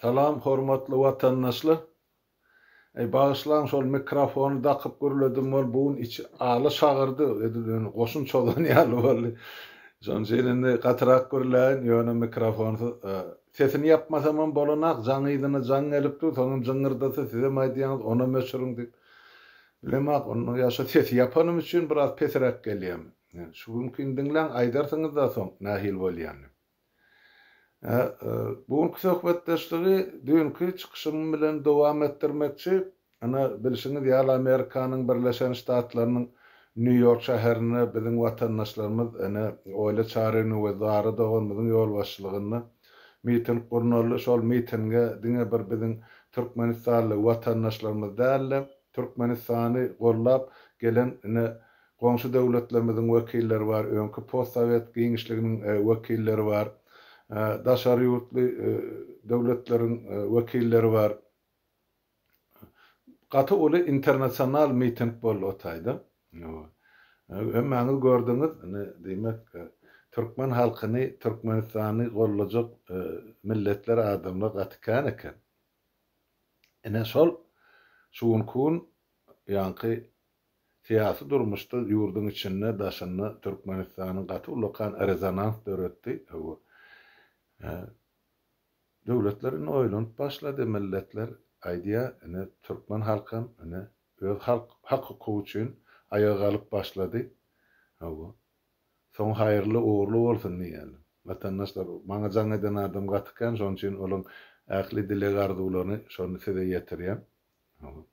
Salam hormatly watandaşlar. Eý bagyşlaň şol mikrofony dakyp gürledim ol bugun içi aly şagyrdy edil indi goşun çozan ýaly boldy. Şonuň üçin indi gatyrak gürläýin ýöne mikrofonsuz sesini ýapmasamam bolanak jaň yzyna jaň gelip dur soňam jyňňyrdasa sizem aýdýaňyz onam öçüriň diýip. Bilemok onda ýa şu sesi ýapanym üçin biraz pesiräk gelýämi. Şu günkin diňläň aýdarsyňyzda soň nähili bolýanyny. Bu günki söhbetdeşligi düýnki çykyşym bilen dowam etdirmekçi. Ine, bilşiňiz ýaly, Amerikanyň Birleşen Ştatlarynyň Nýu-Ýork şäherinde biziň watandaşlarymyz, ene, Oýly Çarynyň we Zara doganymyzyň ýolbaşçylygynda miting gurnaldy. Şol mitinge diňe bir biziň türkmenistanly watandaşlarymyz däl-de, Türkmenistany gollap gelen, ine, Goňşy döwletlerimiziň wekilleri bar, öňki postsowet giňişliginiň wekilleri bar, daşary ýurtly döwletleriň wekilleri bar. Gaty uly internasional miting boldy o taýda. Hemmäňiz gördüňiz, diýmek, türkmen halkyny, Türkmenistany goldajak milletler, adamlar gaty kän eken. Ine şol şu günki gün ýaňky Syýasy durmuşda ýurduň içinde, daşynda Türkmenistanyň gaty ullakan rezonans döretdi. Hawa. Döwletler indi oýlanyp başlady, milletler aýdýar, indi türkmen halkam indi öz halk hak-hukugy üçin aýaga galyp başlady. Hawa. Soňy haýyrly, ugurly bolsun diýeli. Watandaşlar, maňa jaň eden adam gaty kän, şonuň üçin olaň ähli dileg-arzuwlaryny şony size ýetirýän. Hawa.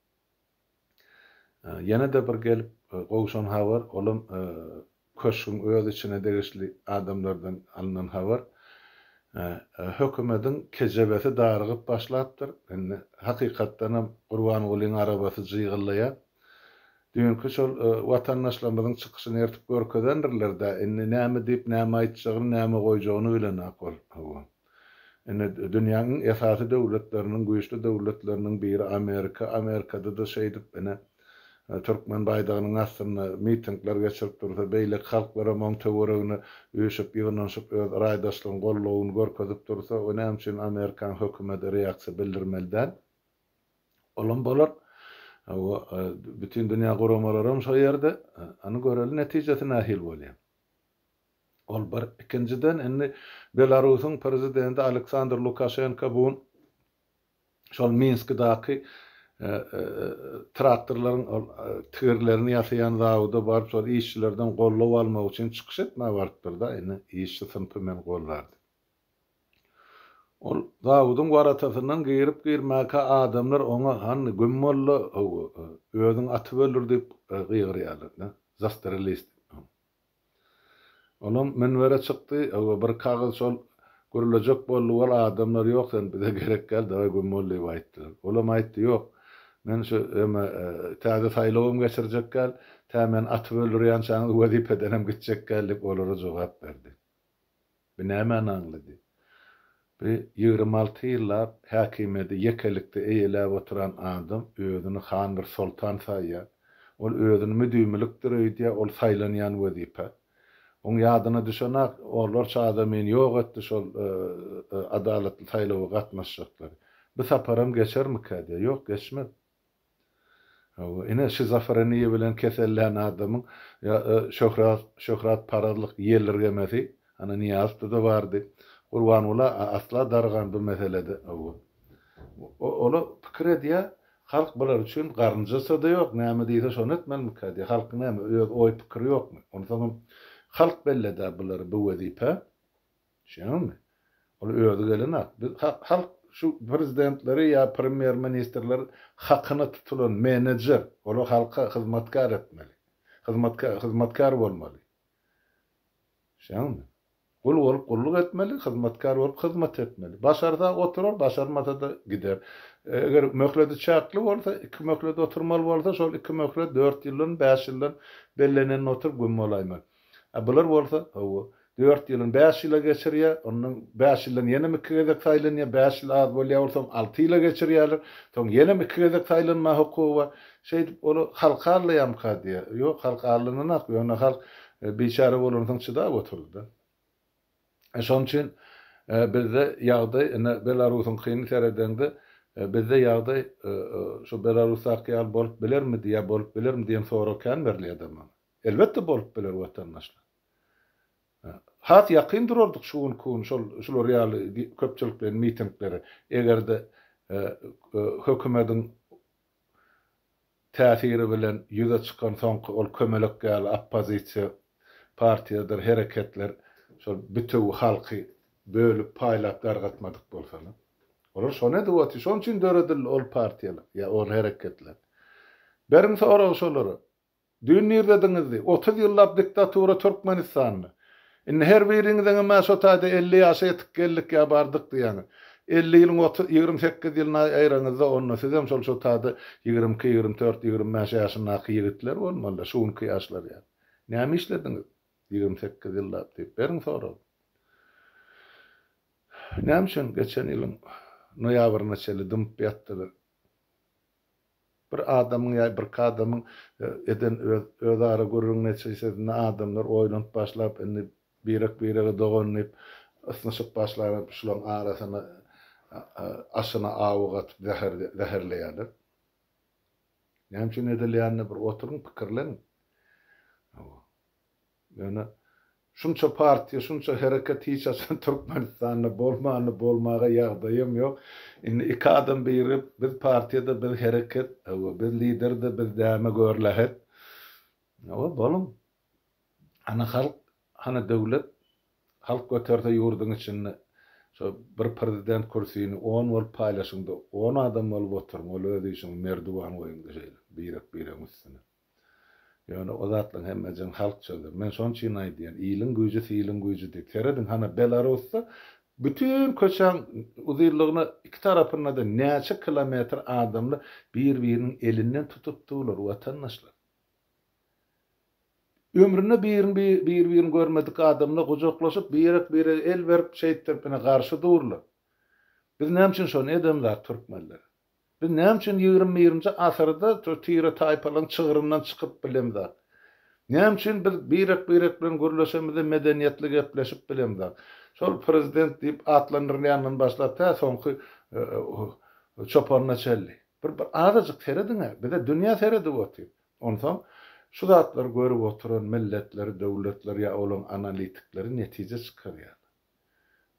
Ýene-de bir gelip gowşan habar, olam Köşgüň öz içine degişli adamlardan alnan habar. Hökümediň kejebesi darygyp başlapdyr. Indi, hakykatdanam, Gurbangulyň arabasy jygyllaýar. Düýnki şol watandaşlarymyzyň çykyşyny ertip görkezendirler-dä, indi näme diýip, näme aýtjagyny, näme goýjagyny bilenok ol. Hawa. Indi dünýäň iň esasy döwletleriniň, güýçli döwletleriniň biri Amerika. Amerikada-da şeýdip ine, türkmen baýdagynyň astynda mitingler geçirip dursa, beýleki halklar hem oň töweregine üýşüp, ýygnanyşyp öz raýdaşlygyny, goldawyny görkezip dursa, o näme üçin Amerikaň hökümeti reaksiýa bildirmeli däl? Olam bolar. Hawa, Bütindünýä guramalaram şo ýerde. Ony göreli netijesi nähili bolýar. Ol bir. Ikinjiden, indi Belarusyň prezidenti Aleksandr Lukaşenko bu gün şol Minskdaky traktorlaryň ol tigirlerini ýasaýan zawoda baryp, şol işçilerden goldaw almak üçin çykyş etmäge barypdyr-da, indi işçi synpy meni goldar diýip. Ol zawodyň waratasyndan girip-girmäkä adamlar oňa, Hany, göm molla, özüň atyp öldür diýip gygyrýarlar-da, Zastreli diýip. Olam münbere çykdy, öwe bir kagyz şol gürlejek boldy, wol adamlar ýok sen bize gerek däl daway güm bol diýip aýtdylar. Olam aýtdy ýok, men şu eme täze saýlawam geçirjek däl, tä meni atyp öldürýänçäňiz wezipedenem gitjek däl diýip olara jogap berdi. Bu nämäni aňlady? Bu ýigrimi alty ýyllap häkimiýeti ýekelikde eýeläp oturan adam özüni han bir soltan saýýar. Ol özüni müdimilikdir öýdýär, ol saýlanýan wezipe. Oň ýadyna düşenak orlar çaga meni ýok etdi şol adalatly saýlawa gatnaşjaklar. Bu saparam geçermikä diýýär. Ýok, geçmez. Hawa, ine, şizofreniýa bilen kesellän adamyň şöhrat, şöhratparazlyk ýelirgemesi, ana, Nyýazowda-da bardy. Gurbanguly asla dargan bu meselede. Hawa. Ol-a pikir edýär, halk bular üçin garynjasy-da ýok, näme diýse, şony etmelimirkä diýýär. Halkyň näme, öz oý-pikiri ýokmy? Onsoňam, halk belleder bulary bu wezipä. Düşündüňmi? Ol özi gelenok. Biz halk şu prezidentleri ýa premýer ministrleri hakyna tutulan menejer, olar halka hyzmatkär etmeli. Hyzmatkär hyzmatkär bolmaly. Düşündüňmi? Gul bolup gulluk etmeli, hyzmatkär bolup hyzmat etmeli. Başarsa oturar, başarmasa-da gider. Eger möhleti çäkli bolsa, iki möhlet oturmaly bolsa, şol iki möhlet dört ýyldan, bäş ýyldan bellenende oturyp güm bolaýmaly. A bular bolsa, hawa, dört ýylyň bäş ýyla geçirýär, onnoň bäş ýyldan ýenem iki gezek saýlanýar, bäş ýyl az bolýar bolsaň alty ýyla geçirýärler, soň ýenem iki gezek saýlanma hukugy bar. Şeýdip ol halk allaýamyka diýýär. Ýok, halk allananak, ýöne halk biçäre bolansoň çydap oturdy-da. Şonuň üçin bizde ýagdaý ine Belarusyňkyny seredeňde, bizde ýagdaý şu Belarusdaky ýaly bolup bilermidi ýa bolup bilermi diýen sorag kän berilýär-de maňa. Elbetde bolup biler watandaşlar. Has ýakyn durardyk şu günki gün şol şular ýaly köpçülikleýin mitinglere. Eger-de hökümediň täsiri bilen ýüze çykan soňky ol kömelek ýaly oppozisiýa partiýadyr hereketler şol bütewi halky bölüp paýlap dargatmadyk bolsalar. Olar şony edip otyr. Şonuň üçin döredildi ol partiýalar ýa ol hereketler. Beriň soragy şolara. Düýn nirdediňizdi? Otuz ýyllap diktatura Türkmenistanda. Indi her biriňiziňem ä şo taýda elli ýaşa ýetip geldik ýa bardyk diýýäňiz. Elli ýylyň otuz, ýigrimi sekiz ýylyna aýraňyzda onda sizem şol şo taýda ýigrimi iki, ýigrimi dört, ýigrimi bäş ýaşyndaky ýigitler bolmaly-da, şu günki ýaşlar ýaly. Näme işlediňiz ýigrimi sekiz ýyllap diýip beriň soragyny. Näme üçin geçen ýylyň noýabryna çenli dymyp ýatdylar? Bir adamyň ýa birki adamyň eden öz özara gürrüň netijesinde adamlar oýlanyp başlap indi birek birege dogan diýip ysnyşyp başlanyp şulaň arasyna aşyna awy gatyp zäher zäherleýäler. Näme üçin edilýänine bir oturyň pikirleniň. Ýöne şunça partiýa, şunça hereket hiç haçan Türkmenistanda bolmandy, bolmaga ýagdaýam ýok. Indi iki adam birigip, biz partiýa-da, biz hereket, hawa, biz lider-de, biz däme gör lähet. Hawa, boluň. Hany halk, hany döwlet? Halk göterse ýurduň içinde şo bir prezident kürsini on bolup paýlaşyň-da, on adam bolup oturyň, ol öz işiňi merdiwan goýuň-da şeýle, birek-biregiň üstüne. Ýöne o zatlaň hemmejigini halk çözer. Men şon çyn aýdýan, iliň güýji siliň güýji diýip. Serediň hana Belarusda bütin köçäň uzynlygyna iki tarapynda-da näçe kilometr adamlar bir-biriniň elinden tutup durlar, watandaşlar. Ömründe birin bir-birini görmedik adamlar gujaklaşyp, birek-birege el berip, şeýtdirip ine garşy durlar. Biz näme üçin şony edemzak türkmenler? Biz näme üçin ýigrimi birinji asyrda şu tire-taýpalaryň çygryndan çykyp bilemzok? Näme üçin biz birek-birek bilen gürleşemizde medeniýetli gepleşip bilemzok? Şol prezident diýip atlandyrylýandan başlap tä soňky çopanyna çenli. Bir bir azajyk serediň-ä, bize dünýä seredip otyr. Onsoň şu zatlary görüp oturan milletler, döwletler ýa olaryň analitikleri netije çykarýarlar.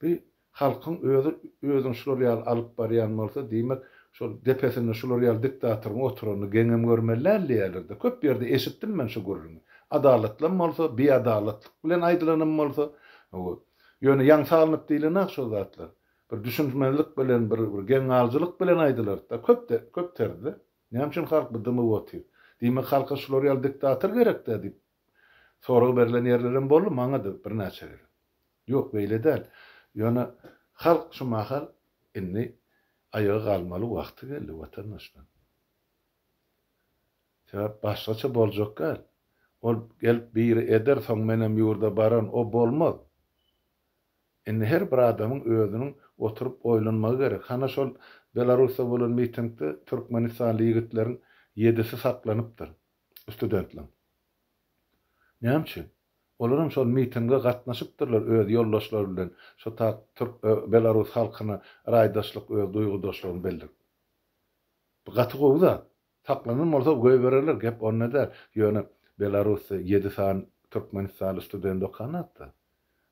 Bi halkyň özi özüň şular ýaly alyp barýan bolsa diýmek şol depesinde şular ýaly diktatoryň oturanyny geňem görmeli däl diýýärlerde köp ýerde eşitdim men şu gürrüňi adalatlam bolsa biadalatlyk bilen aýdylanam bolsa hawa ýöne ýaň salnyp diýlenak şol zatlar bir düşünmezlik bilen bir bir geň galyjylyk bilen aýdylartda köpde köp terde näme üçin halk bu dymyp otyr diýmek halka şular ýaly diktator gerekdä diýip Sorag berlen ýerlerem boldy, maňa-da birnäçe gezek. Ýok, beýle däl. Ýöne halk şu mahal indi aýaga galmaly wagty geldi watandaşlar. Sebäp başgaça boljak däl. Ol gelip biri eder, soň menem ýurda baran, o bolmaz. Indi her bir adamyň özüniň oturyp oýlanmagy gerek. Hana şol Belarusda bolan mitingde türkmenistanly ýigitleriň ýedisi saklanypdyr. studentleň. Näme üçin? Olaram şol mitinge gatnaşypdyrlar öz ýoldaşlary bilen şo tak türk e, belarus halkyna raýdaşlyk öz duýgudaşlygyny bildirip. Bu gaty gowy zat. Saklanan bolsa goýbererler gep onda däl. Ýöne belarusda ýedi sany türkmenistanly student okanatda.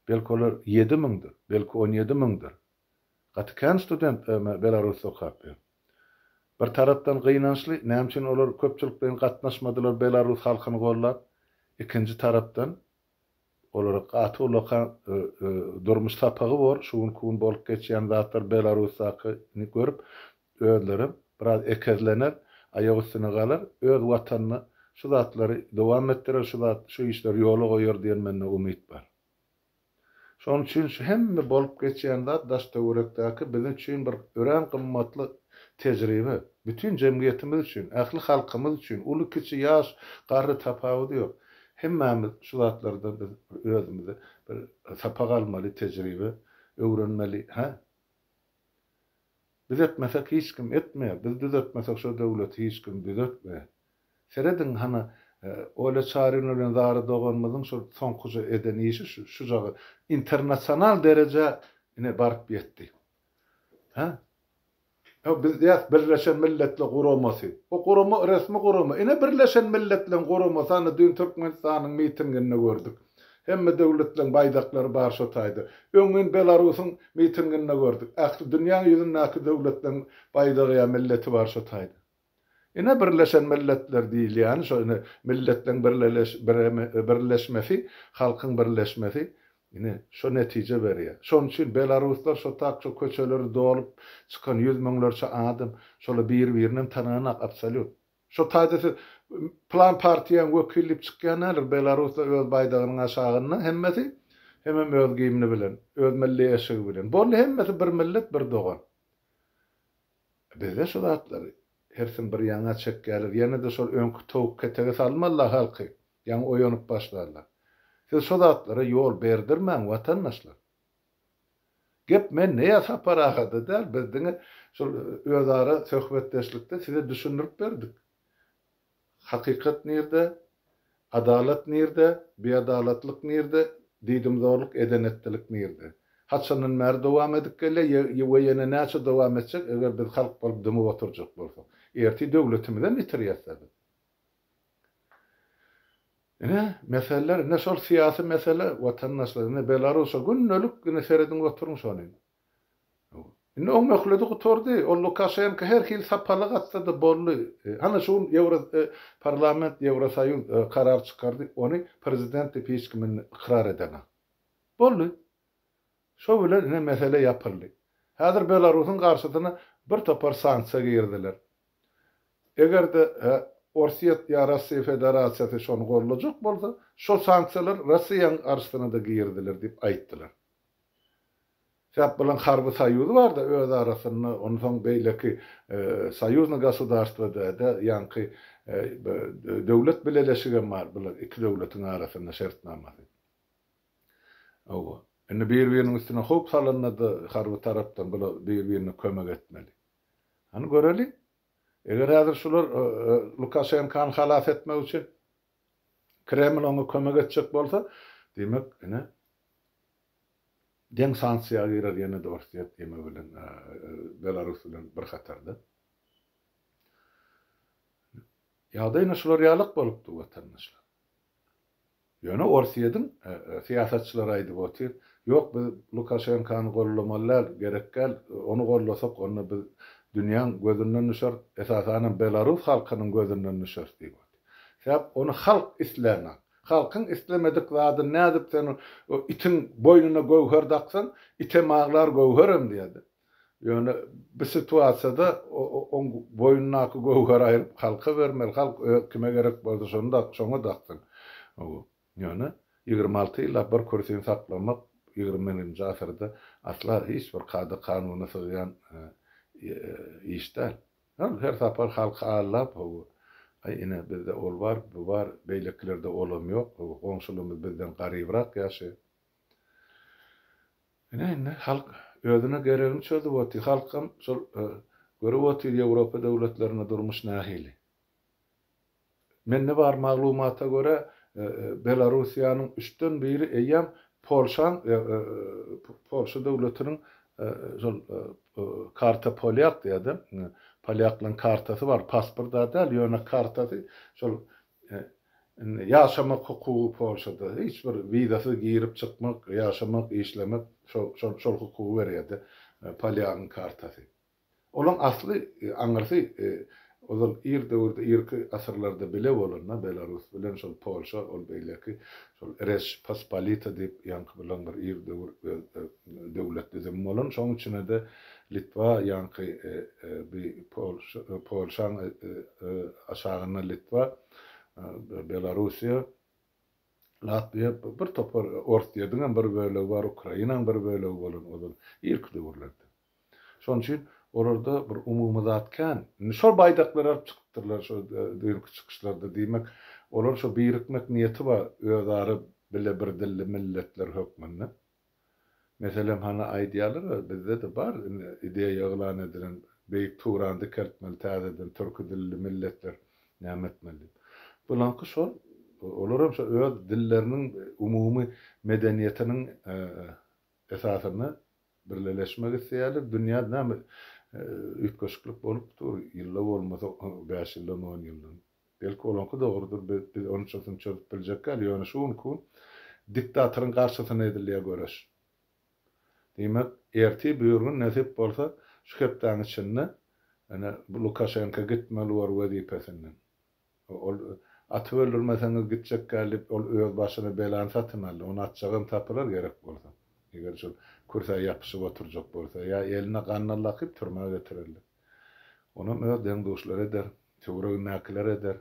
Belki olar ýedi müňdir, belki on ýedi müňdir. Gaty kän student öme belarusy okap ýör. Bir tarapdan gynançly näme üçin olar köpçülikleýin gatnaşmadylar belarus halkyny gollap, ikinji tarapdan olara gaty ullakan durmuş sapagy bor, şu günki gün bolup geçýän zatlar belarusdaky ni görüp özlerem biraz ekezlener, aýak üstüne galar, öz watanyna şu zatlary dowam etdirer, şu zat şu işleri ýola goýar diýen mende umyt bar. Şonuň üçin şu hemme bolup geçýän zat daş-töwerekdäki biziň üçin bir örän gymmatly tejribe. Bütin jemgyýetimiz üçin, ähli halkymyz üçin, uly-kiçi, ýaş, garry tapawudy ýok. Hemmämiz şu zatlardan biz bir özümize bir sapak almaly, tejribe öwrenmeli, hä? Biz etmesek hiç kim etmeýär, biz düzetmesek şo döwleti hiç kim düzetmeýär. Serediň hany Olýa Çarina bilen Zara doganymyzyň şo soňkuja eden işi şu şujaga internasional derejä ine baryp ýetdi. Hä? Ýa biz diýýäs Birleşen Milletler Guramasy. O gurama resmi gurama. Ine Birleşen Milletleriň guramasy hany düýn Türkmenistanyň mitinginde gördük. Hemme döwletleriň baýdaklary bar şo taýda. Öňňin Belarusyň mitinginde gördük. Ähli dünýäň ýüzündäki döwletleriň baýdagy ýa milleti bar şo taýda. Ine Birleşen Milletler diýilýäni şo ine milletleriň birleşmesi, halkyň birleşmesi ine şo netije berýär. Şonuň üçin belaruslar şo tak şo köçeleri dolup çykan ýüz müňlerçe adam şolar bir birinem tananak absolýutno. Şo taýda siz plan partiýaň wekili diýip çykýan näler belarusda öz baýdagynyň aşagynda hemmesi hemem öz gimni bilen öz milli eşigi bilen boldy hemmesi bir millet bir dogan bizde şu zatlary hersin bir ýaňa çekýäler ýenede şol öňki towuk ketege salmalylar halky ýaňa oýanyp başlarlar siz şo zatlara ýol berdirmäň watandaşlar. Gep men näe Sapar agada däl, biz diňe şol özara söhbetdeşlikde size düşündirip berdik. Hakykat nirde, adalat nirde, biadalatlyk nirde, diýdimzorluk edenetdilik nirde? Haçandan bäri dowam edip gelýär we ýene näçe dowam etjek eger biz halk bolup dymyp oturjak bolsak? Ertir döwletimizem ýitirýäs-dä biz. Ine, meseleler, ine şol syýasy mesele, watandaşlar, ine Belarusa gündelik, ine serediň oturyň şony. Indi oň möhledi gutardy, ol Lukaşenka her hili sapalyk atsa-da boldy. Hany şu gün Ýewro parlament, Ýewrosoýuz karar çykardy, ony prezident diýip hiç kim indi ykrar edenok. Boldy. Şo bilen ine mesele ýapyldy. Häzir Belarusyň garşysyna bir topar sanksiýa giriziler. Eger-de Orsýet ýa Russiýa Federasiýasy şony goldajak bolsa, şo sanksiýalar Russiýanyň garşysyna-da giriziler diýip aýtdylar. Sebäp bularyň harby soýuzy bar-da öz arasynda, onsoň beýleki soýuznyý gosudarstwada-da ýaňky döwlet bileleşigem bar, bular iki döwletiň arasynda şertnamasy. Hawa. Indi bir-biriniň üstüne howp salanda-da harby tarapdan bular bir-birine kömek etmeli. Hany göreliň. Eger häzir şular Lukaşenkany halas etmek üçin Kreml oňa kömek etjek bolsa, diýmek, ine, deň sanksiýa girer ýene-de Orsýet diýmek bilen Belarus bilen bir hatarda. Ýagdaý ine şular ýalak bolupdyr, watandaşlar. Ýöne Orsýediň syýasatçylary aýdyp otyr, Ýok, biz Lukaşenkany gollamaly däl, gerek däl, ony gollasak, onda biz dünýäň gözünden düşeris, esasanam belarus halkynyň gözünden düşeris diýip otyr. Sebäp ony halk islänok. Halkyň islemedik zadyny nädip sen itiň boýnuna göwher daksaň, item aglar, göwherem diýer-de. Ýöne bu situasiýada oň boýnundaky göwher aýryp halka bermeli, halk öz kime gerek bolsa şony şoňa daksyn. Ýöne ýigrimi alty ýyllap bir kürsini saklamak ýigrimi birinji asyrda asla hiç bir kada kanuna sygýan iş däl. Ol her sapar halky aldap hawa, aý ine bizde ol bar, bu bar, beýlekilerde olam ýok, goňşulymyz bizden garybrak ýaşaýar. Ine indi halk özüne geregini çözüp otyr. Halkam şol görüp otyr Ýewropa döwletlerinde durmuş nähili. Mende bar maglumata görä Belarussiýanyň üçden biri eýýäm Polşaň Polşa döwletiniň şol karta polýak diýýädä polýaklaryň kartasy bar pasporta däl ýöne kartasy şol Indi ýaşamak hukugy Polşada hiç bir wizasyz girip çykmak, ýaşamak, işlemek şo şol hukugy berýärdi, polýagyň kartasy. Olaň asly aňyrsy ozal ir döwürde irki asyrlarda bile bolanda Belarus bilen şol Polşa ol beýleki şol Reş Pospolita diýip ýaňky bilen bir ir döwür öz döwlet düzümi bolan, şoň üçine-de Litwa ýaňky bi Polşaň aşagynda Litwa, Belarusiýa, Latwiýa, bir topar Orsýediňem bir bölegi bar, Ukrainaň bir bölegi bolan ozal, irki döwürlerde. Şoň üçin olarda bir umumy zat kän. Indi şol baýdaklary alyp çykypdyrlar şu düýnki çykyşlarda. Diýmek, olar şu birikmek niýeti bar özara bile birdilli milletler hökmünde. Meselem hany aýdýalar we bizde-de bar indi ideýa yglan edilen Beýik Turan dikeltmeli täzeden türki dilli milletler näme etmeli diýip. Bulaňky şol olar hem şo öz dilleriniň umumy medeniýetiniň esasynda birleleşmek isleýärler. Dünýä näme üýtgeşiklik bolup dur ýylla bolmasa bäş ýyldan on ýyldan. Belki olaňky dogrudyr, biz onuň çyzysyny çözüp biljekgäl, ýöne şu günki gün diktatoryň garşysyna edilýär göreş. Diýmek, ertir bir gün nesip bolsa, şu hepdäň içinde ine bu Lukaşenka gitmeli bor wezipesinden. Ol atyp öldürmeseňiz gitjekgäl diýip, ol öz başyna belany satyn aldy, ony atjagam tapylar gerek bolsa. Eger şol kürsä ýapyşyp oturjak bolsa, ýa eline ganyny lakyp türmä getirerler. Onam öz deň-duşlary eder, töweregindäkiler eder,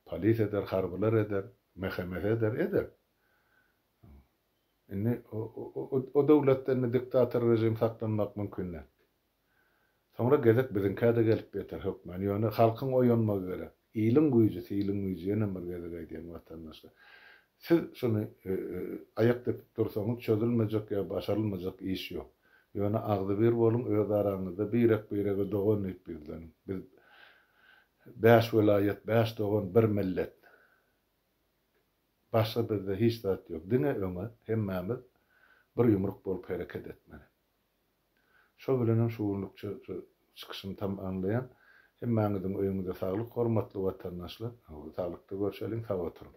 polis eder, harbylar eder, mähemesi eder, eder. Indi o döwletde indi diktator režim saklanmak mümkin däl. Soňra gezek biziňkä-de gelip ýeter hökmany. Ýöne halkyň oýanmagy gerek. Iliň güýji, siliň güýji, ýenem bir gezek aýdýan watandaşlar. Siz şuny aýak depip dursaňyz, çözülmejek ýa başarylmajak iş ýok. Ýöne agzybir boluň, öz araňyzda birek-birege dogan diýip ýüzleniň. Biz bäş welaýat, bäş dogan, bir millet. Başga bizde hiç zat ýok. Diňe öňe, hemmämiz bir ýumruk bolup hereket etmeli. Şo bilenem şu günlükçe şu çykyşymy tamamlaýan. Hemmäňiziň öýüňize saglyk hormatly watandaşlar. Saglykda görşeliň, sag oturyň.